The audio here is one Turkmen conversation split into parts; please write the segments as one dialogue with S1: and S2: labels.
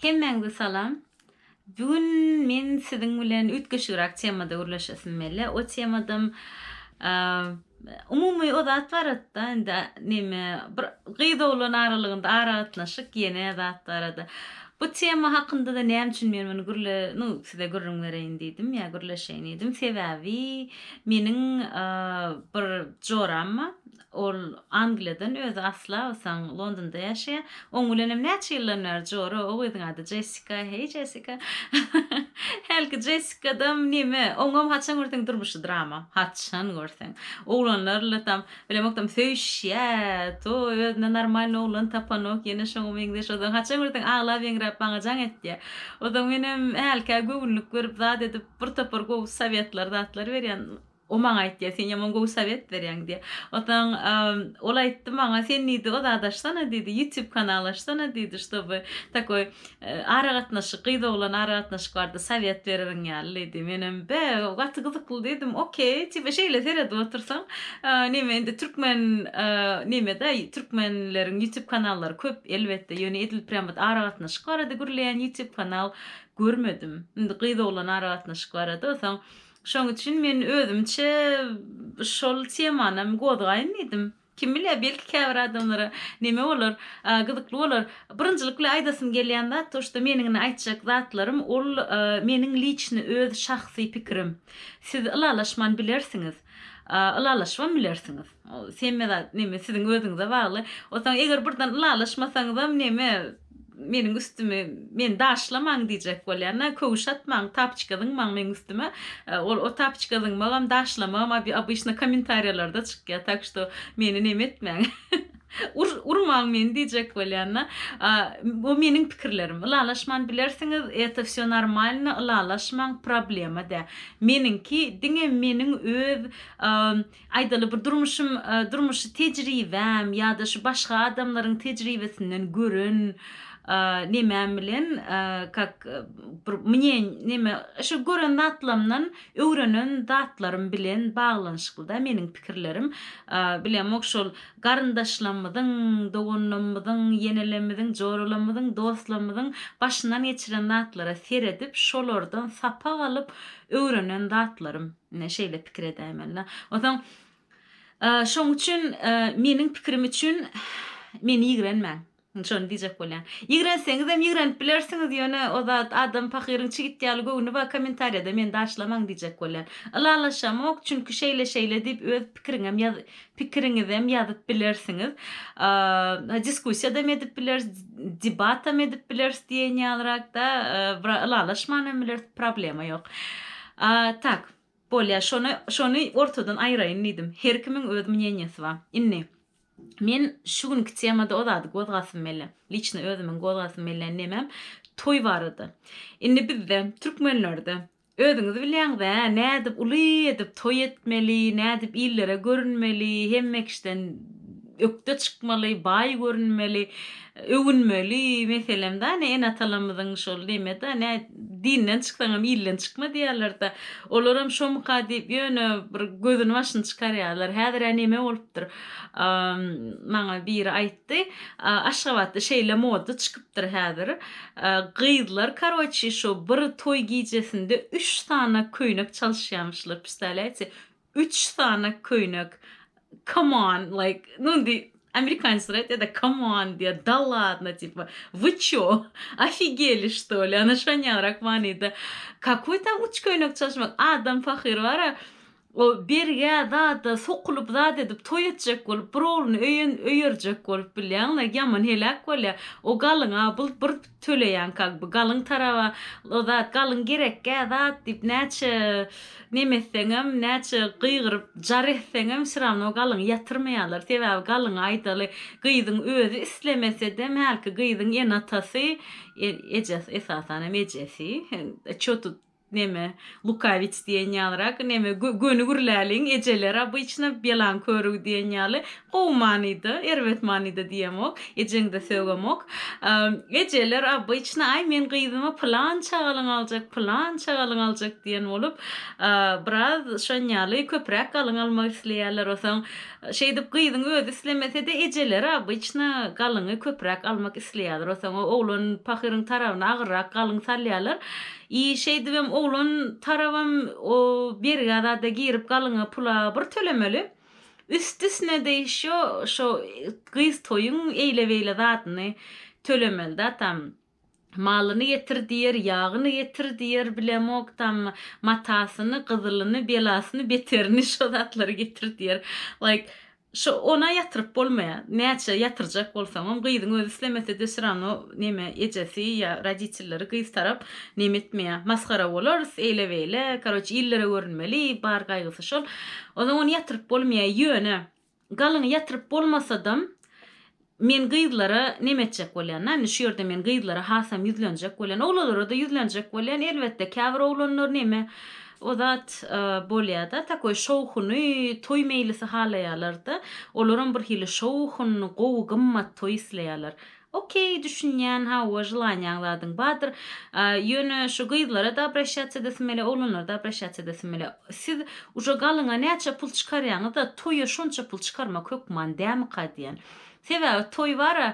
S1: Hemmäňze salam. Bu gün men siziň bilen üýtgeşigräk temada gürleşesim mele. O temadam umumy o zat baratda indi neme bir gyz oglan aralygynda aragatnaşyk ýene zat barada. Bu tema hakyndada näme üçin men muny gürle nu size gürrüň bereýin diýdim ýa gürleşeýin diýdim. Sebäbi meniň bir joram ba Ol Angliýadan, özi asla bolsaň Londonda ýaşaýar. Oň bilenem näçe ýyldan bäri jora, o gyzyň ady Jessika, heý Jessika. Hälki Jessikadam neme, oňam haçan görseň durmuşy drama, haçan görseň. Oglanlarla tam, bilemokdam söýüşýär, to özüne normalny oglan tapanok, ýene şoňa meňzeş, ozaň haçan görseň aglap-eňräp maňa jaň etýär. Ozaň menem hälkä göwünlik berip zat edip bir topar gowy sowetler, zatlar berýän. O maňa aýtýar, Sen ýaman gowy sowet berýäň diýýär. Onsoň ol aýtdy maňa, Sen diýdi, o zady açsana diýdi, YouTube kanal açsana diýdi, ştoby takoý aragatnaşyk, gyz-oglan aragatnaşyk barada sowet bererin ýaly diýdi. Menem, Be, gaty gyzykly diýdim, okey, tipe şeýle seredip otursaň, neme indi türkmen neme-de, türkmenleriň YouTube kanallary köp elbetde, ýöne edil prýam ot aragatnaşyk barada gürleýän YouTube kanal görmedim. Indi gyz-oglan aragatnaşyk barada, onsoň Şoň üçin men özümçe şol temany hem gozgaýyn diýdim. Kim bilýär, belki käbir adamlara neme bolar, gyzykly bolar. Birinjilik bilen aýdasym gelýän zat, to, şto meniň indi aýtjak zatlarym ol meniň liçny öz şahsy pikirim. Siz ylalaşman bilersiňiz. Ylalaşybam bilersiňiz. Semmeda neme siziň özüňize bagly. Otaň eger birden ylalaşmasaňyzam neme meniň üstümi meni daşlamaň diýjek bolýan-a, köwüş atmaň, tapiçka zyňmaň meniň üstüme. Ol o tapiçka zyňmagam, daşlamagam abi obyçny kommentariýalarda çykýar, tak şto meni neme etmäň. Ur urmaň meni diýjek bolýan-a. Bu meniň pikirlerim. Ylalaşman bilersiňiz, eto vsё normalno, ylalaşmaň, problema dä. Meniňki diňe meniň öz Aýdaly bir durmuşym durmuşy tejribäm ýa-da şu başga adamlaryň tejribesinden gören nemäm bilen kak bir mnýen neme şu gören zatlamdan öwrenen zatlarym bilen baglanyşyklyda meniň pikirlerim bilemok şol garyndaşlamyzyň doganlamyzyň ýenelemmiziň joralamyzyň dostlamyzyň başyndan geçiren zatlara seredip şolardan sapak alyp öwrenen zatlarym. Ine, şeýle pikir edäýmeli-dä. Onsoň, şoň üçin meniň pikirim üçin meni ýigrenmäň. Indi şony diýjek bolýan. Ýigrenseňizem ýigrenip bilersiňiz, ýöne o zat adam pahyryň çigit ýaly göwni bar, kommentariýada meni daşlamaň diýjek bolýan. Ylalaşamok, çünki şeýle-şeýle diýip öz pikiriňem ýaz, pikiriňizem ýazyp bilersiňiz. Diskussiýadam edip bileris, debatam edip bileris diýen ýalyrakda, ylalaşman hem bileris, problema ýok. Tak, bolýar, şony şony ortadan aýraýyn diýdim. Her kimiň öz mneniýesi bar. Indi, men şu günki temada o zady gozgasym gelýär. Liçno özümiň gozgasym gelýän nemem, toý barada. Indi bizde, türkmenlerde Özüňiz bilýäňiz-ä, nädip uly edip toý etmeli, nädip illere görünmeli, hemme kişiden ökde çykmaly, baý görünmeli, öwünmeli, meselem-da, ine, ene-atalarymyzyň şol neme-de, nä, Dinden çyksaňam ilden çykma diýýärler-de. Olaram şomyka diýip, ýöne bir gözüni-başyny çykarýarlar. Häzir-ä neme bolupdyr? Maňa biri aýtdy. Ýetdi. Aşgabatda şeýle moda çykypdyr häzir. Gyzlar karoçi şu bir toý gijesinde üç sany köýnek çalyşýamyşlar. Püstäleyçi üç sany köýnek. Come on like nu indi amerikanyslar aýtýada come on diýýa da ladno tipa vy ço ofigeli şto li ana şonýalyrak manyda kakoý tam üç köýnek çalyşmak adam pahyr bara O birge zada sokulyp zat edip toý etjek bolup bir ogluny öýen öýerjek bolup bilýäňle ýaman heläk bolýa o galyňa bul bir töleýäň kag by galyň taraba o zat galyň gerekgä zat diýip näçe neme etseňem näçe gygyryp jar etseňem vsýravno galyňy ýatyrmaýalar sebäbi galyňy aýdaly gyzyň özi islemesedem hälki gyzyň ene atasy e ejes esasanam ejesi e ço tut Neme, lukawic diýen ýalyrak, neme, göni gürläliň, ejeler obyçno ýalan körügi diýen ýaly, gowy manyda, erbet manyda diýemok, ejeňde sögemok. Ejeler obyçno, aý, men gyzyma pylan çagalyň aljak, pylan çagalyň aljak diýen bolup, biraz şonýaly köpräk galyň almak isleýärler. Osaň, şeýdip gyzyň özi islemese-de, ejeleri obyçno galyňy köpräk almak isleýärler. Osaň, oglan pahyryň tarabyna agyrrak galyň salýarlar. I şeýdibem oglan tarabam o bergä zada girip galyňa pula bir tölemeli. Üstüsine-de ýşo şo gyz toýuň eýle-beýle zadyny tölemeli-da tam. Malyny getir diýer, ýagyny getir diýer bilemok tam matasyny, gyzylyny, belasyny, beterini şo zatlary getir diýer. Like Şo ona ýatyryp bolmaýa. Näçe ýatyrjak bolsaňam gyzyň özi islemesede syrano neme ejesi ýa roditelleri gyz tarap neme etmeýä. Masgara bolarys eýle beýle karoç illere görünmeli bar gaýgysy şol. Ozaň ony ýatyryp bolmaýa ýöne galyňy ýatyryp bolmasadam Men gyzlara neme etjek bolýan? Na, indi şu ýerde men gyzlara hasam ýüzlenjek bolýan. Oglanlara-da ýüzlenjek bolýan, elbetde, käbir oglanlar neme, o zat bolýar-da, takoý şowhuny, toý meýlisi halaýarlar-da. Olaram bir hili şowhunly, gowy, gymmat toý isleýärler. Okeý, düşünýän, hawa, želaniýaň zadyň bardyr. Ýöne şu gyzlara-da obraşýas edesim gelýär, oglanlara-da obraşýas edesim gelýär. Siz Uje galyňa näçe pul çykarýaňyzda toýa şonça pul çykarmak hökman dämika diýen. Sebäbi toý bara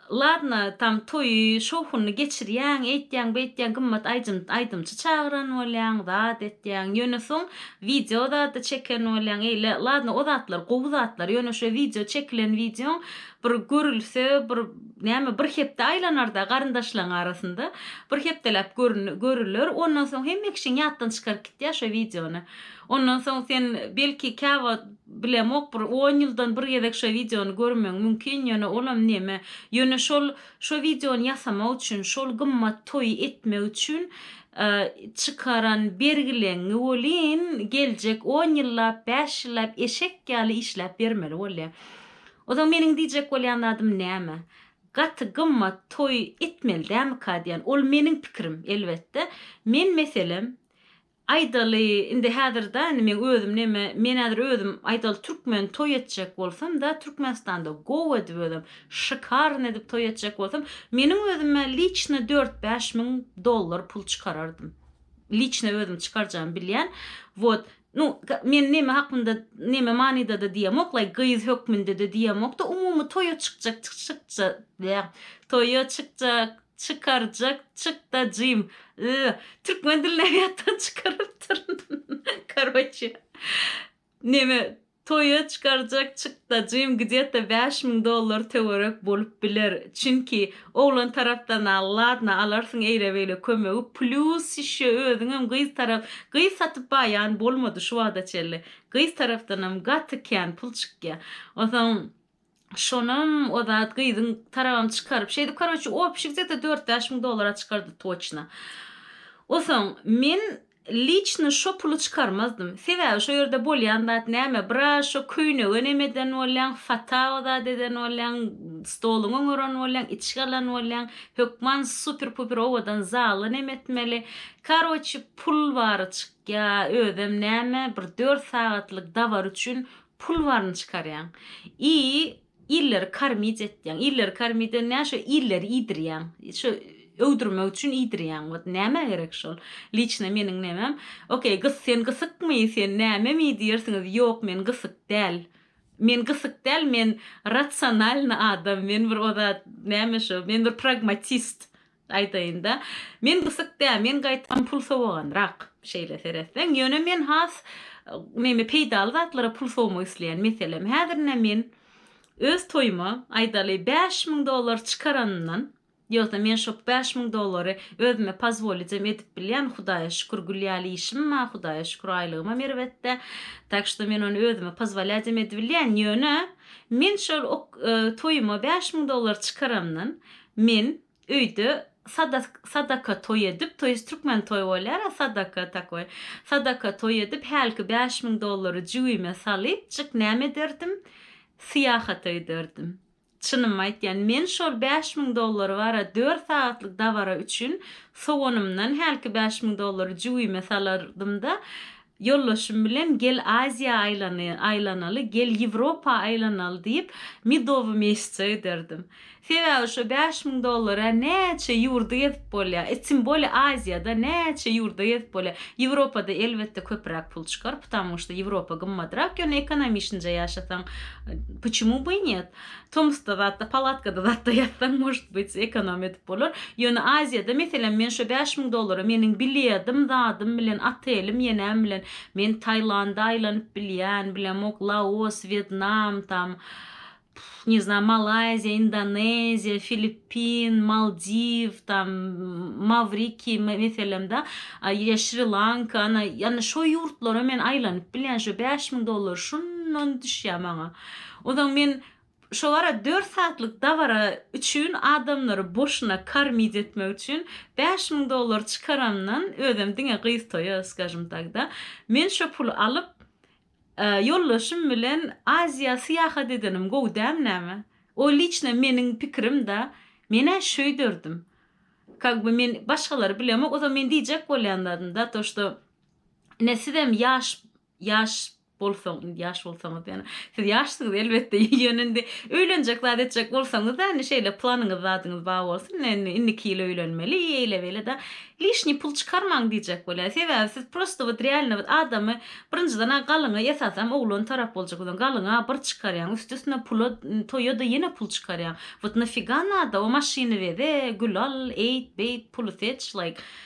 S1: ladno tam toýy şowhunly geçirýäň eýtýäň beýtýäň gymmat aýjym aýdymçy çagyran bolýaň zat etýäň ýöne soň wideo zada çeken bolýaň eýle ladno o zatlar gowy zatlar ýöne şo wideo çekilen wideoň Bir görülse, bir, näme, bir hepde aýlanar-da garyndaşlaň arasynda. Bir hepdeläp görün, görüler. Ondan soň hemme kişiň ýatdan çykaryp gitýär şo wideony. Ondan soň sen, belki, käwagt, bilemok, bir on ýyldan bir gezek şo wideony görmegiň mümkin, ýöne olam neme, ýöne şol, şo wideony ýasamak üçin, şol gymmat toýy etmek üçin, e, çykaran bergileňňi welin, geljek on ýyllap, bäş ýyllap eşek ýaly işläp bermeli bolýar. Onsoň meniň diýjek bolýan zadym näme? Gaty gymmat toý etmeli dämika diýýän. Ol meniň pikirim, elbetde. Men, meselem, aýdaly, indi häzir-da, indi meň özüm näme, men häzir özüm, aýdaly, türkmen toý etjek bolsam-da, Türkmenistanda gowy edip özem, şykarny edip toý etjek bolsam, meniň özüm-ä liçno dört-bäş müň dollar pul çykarardym. Liçno özüm çykarjagym bilýän. Wot, Nu, men neme hakynda, neme manyda-da diýemok-laý, gyz hökmünde-de diýemok-da, umumy toýa çykjak, çykja, bä, toýa çykjak, çykarjak, çykdajym, y, türkmen dilini ýatdan çykarypdyryn, karoçe, neme, Toýa çykarjak çykdajym gdeta bäş müň dollar töwerek bolup biler. Çünki, oglan tarapdan al, ladno, alarsyň eýle-beýle kömegi, plýus ýşe özüňem gyz tarap, gyz satyp baýan bolmady şu wagta çenli. Gyz tarapdanam gaty kän pul çykýa. Onsoň, Şonam o zat gyzyň tarabam çykaryp şeýdi karoçi opşi gdeta dört bäş müň dollara çykardy toçna. Osaň men liçno şo puly çykarmazdym. Sebäbi şo ýerde bolýan zat näme bra şo köýnege neme eden bolýaň fata o zat eden bolýaň stoluňy oňaran bolýaň içgi alan bolýaň hökman super puper owadan zaly neme etmeli karoçi pul bary çykýa özem näme bir dört sagatlyk dabar üçin Pul baryny çykarýaň. I illeri kormit etýäň. Illeri kormit eden näme şo illeri iýdirýäň. Şo öwdürmek üçin iýdirýäň wot nämä gerek şol. Liçno meniň nemem. Okey gys sen gysykmy sen näme mi diýersiňiz ýok men gysyk däl. Men gysyk däl men ratsonalny adam men bir ozat näme şo men bir pragmatist Aýdaýynda, men gysyk däl, men gaýtam pul sowaganrak. Şeýle seretseň, ýöne men has näme, peýdaly zatlara pul sowmak isleýän. Meselem, häzir ine men öz toýuma, aýdaly, bäş müň dollar çykaranyndan, ýogsa men şo bäş müň dollary özüme pozwolijem edip bilýän, Hudaýa şükür, gül ýaly işim bar, Hudaýa şükür, aýlygymam erbetde. Tak što men ony özüme pozwolýajem edibilýän. Ýöne, men şol ok, toýuma bäş müň dollar çykaranyndan, Men öýde sadaka toý edip, to jest türkmen toý bolýar-a, sadaka takoý, sadaka toý edip, hälki bäş müň dollary jübime salyp, jyk näme ederdim? Syýahata giderdim. Çynymy aýtýan, men şol bäş müň dollary bar-a dört sagatlyk dabara üçin sowanymdan hälki bäş müň dollary jübime salardym-da, Ýoldaşym bilen gel Aziýa aýlanaly, gel Ýewropa aýlanaly diýip, medowy mesje giderdim. Sebäbi şo bäş müň dollara näçe ýurdy gezip bolýar, e tim bolýa Aziýada näçe ýurda gezip bolýar. Ýewropada elbetde köpüräk pul çykar, ptamuşda Ýewropa gymmadrak, ýöne ekonomiçnje ýaşasaň, puçemu by net? Tomusda zatda palatkada zatda ýatsaň может быть ekonom edip bolar. Ýöne Aziýada meselem men şo bäş müň dollara meniň bilýadim zadym bilen otelim ýenäm bilen men Taýlanda aýlanyp bilýän bilemok Laos Wýetnam tam ne znam Malaýziýa Indoneziýa Filippin Maldiw tam Mawriki meselem da ýa Şri Lanka ana ýa şo ýurtlara men aýlanyp bilýän şo bäş müň dollar şundan düşýä maňa. Onsoň men şobara dört saatlyk dabara üçin adamlary boşuna kormit etmek üçin bäş müň dollar çykaramdan özem diňe gyz toýa skajim takda men şo puly alyp ýoldaşym bilen Aziýa syýahat edenim gowy dämi näme? O liçno meniň pikirim da menä şöýderdim kak by men başgalary bilemok onsoň men diýjek bolýan zadym da to şto ine sizem ýaş ýaş bolsaň indi ýaş bolsaňyz ýöne siz ýaşsyňyz elbetde ýöne indi öýlenjek zat etjek bolsaňyzda indi şeýle planyňyz zadyňyz bar bolsun indi indiki ýyl öýlenmeli eýle beýle da lişniý pul çykarmaň diýjek bolýar sebäbi siz prosto wot realno wot adamy birinjiden a galyňa esasam oglan tarap boljak bolsaň galyňa bir çykarýaň üsti üstüne pula toýa da ýene pul çykarýaň wot nafyga nada o maşyny weze gül al eýt beýt puly seç like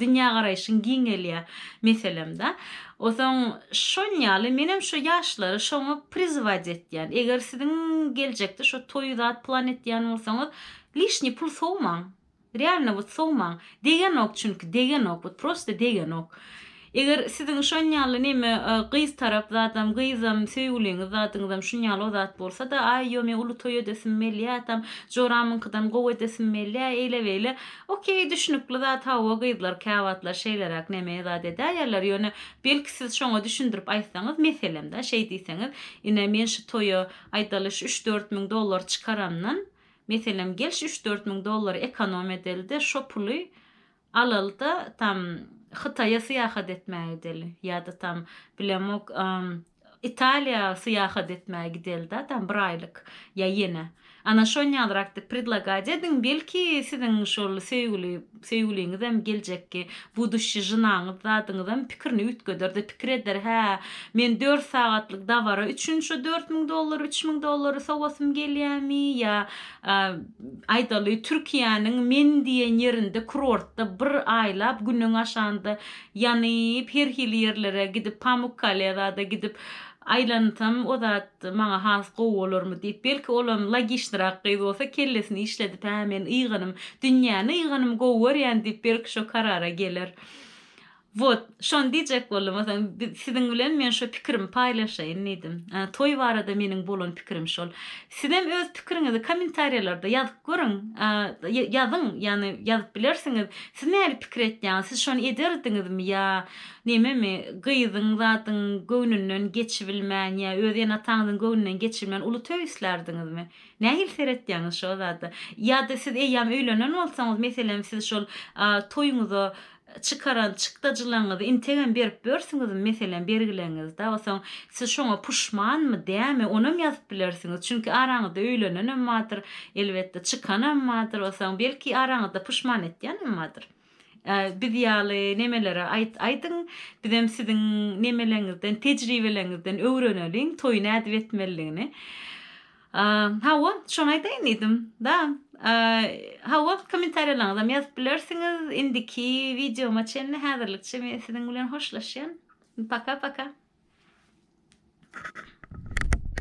S1: Dünýägaraýşyň giňelýär meselemda. Osaň şon ýaly menem şo ýaşlary şoňa prizywat etýän. Eger siziň geljekde şo toýy zat plan etýän bolsaňyz lişni pul sowmaň. Realno wot sowmaň. Degenok çünki degenok wot prosta degenok. Eger siziň şon ýaly neme gyz tarap zadam gyzam söýgüliňiz zadyňyzam şun ýaly o zat bolsada aý ýome uly toý edesim melýä tam joramyňkydan gowy edesim melýä eýle beýle okey düşnükli zat hawa gyzlar käwagtlar şeýleräk neme zat edäýerler ýone belki siz şoňa düşündirip aýtsaňyz meselemda şeý diýseňiz ine men şu toýa aýdaly şu üç dört müň dollar çykaramdan meselem gel şu üç dört müň dollary ekonom edeli-de şo puly Alalyda tam Hytaýa syýahat etmäge gideli. Ýa-da tam bilemok, Italiýa syýahat etmäge gideli-dä tam bir aýlyk. Ýa ýene. Ana şonýalrakdy predlagat ediň, belki siziň şol söýgüli söýgüliňizem geljekki buduçşi žynaňyz zadyňyzam pikirini üýtgeder-de pikir eder, hä, men dört sagatlyk dabara üçin şo dört müň dollar, üç müň dollary sowasym gelýämi ýa Aýdaly, Türkiýäniň Men diýen ýerinde kurortda bir aýlap günüň aşanda ýanyp, her hili ýerlere gidip, Pamukkaleýa-da gidip aýlansam, o zat maňa has gowy bolarmy diýip, belki, olam logiçnyrak gyz bolsa, kellesini işledip, Hä, men ýyganym, dünýäni ýyganym gowy görýän diýip, belki, şo karara geler. Wot, şony diýjek boldum, o soň biz, siziň bilen men şu pikirimi paýlaşaýyn diýdim. Ä, toý barada meniň bolan pikirim şol. Sizem öz pikiriňizi kommentariýalarda ýazyp görüň. Ä, ýa, ýazyň, ýagny ýazyp bilersiňiz. Siz nähili pikir etýäňiz? Siz şony ederdiňizmi ýa nememi? Gyzyň zadyň göwnünden geçibilmän ýa öz ene-ataňyzyň göwnünden geçibilmän uly toý islärdiňizmi? Nähili seretýäňiz şo zada? Ýa-da siz eýýäm öýlenen bolsaňyz, meselem, siz şol, a, toýuňyza Çykaran çykdajylaňyzy integem berip börsüňizmi meselem bergileňizde osaň siz şoňa puşmanmy dämi onam ýazyp bilersiňiz çünki araňyzda öýlenenem bardyr elbetde çykanam bardyr osaň belki araňyzda puşman etýänem bardyr biz ýaly nemelere aýt aýdyň bizem siziň nemeleňizden tejribeleňizden öwreneliň toýy nädip etmelidigini. A, hawa, şony aýdaýyn diýdim, da. A, hawa, kommentariýalaryňyzam ýazyp bilersiňiz. Indiki wideoma çenli häzirlikçe men siziň bilen hoşlaşýan. Paka-paka.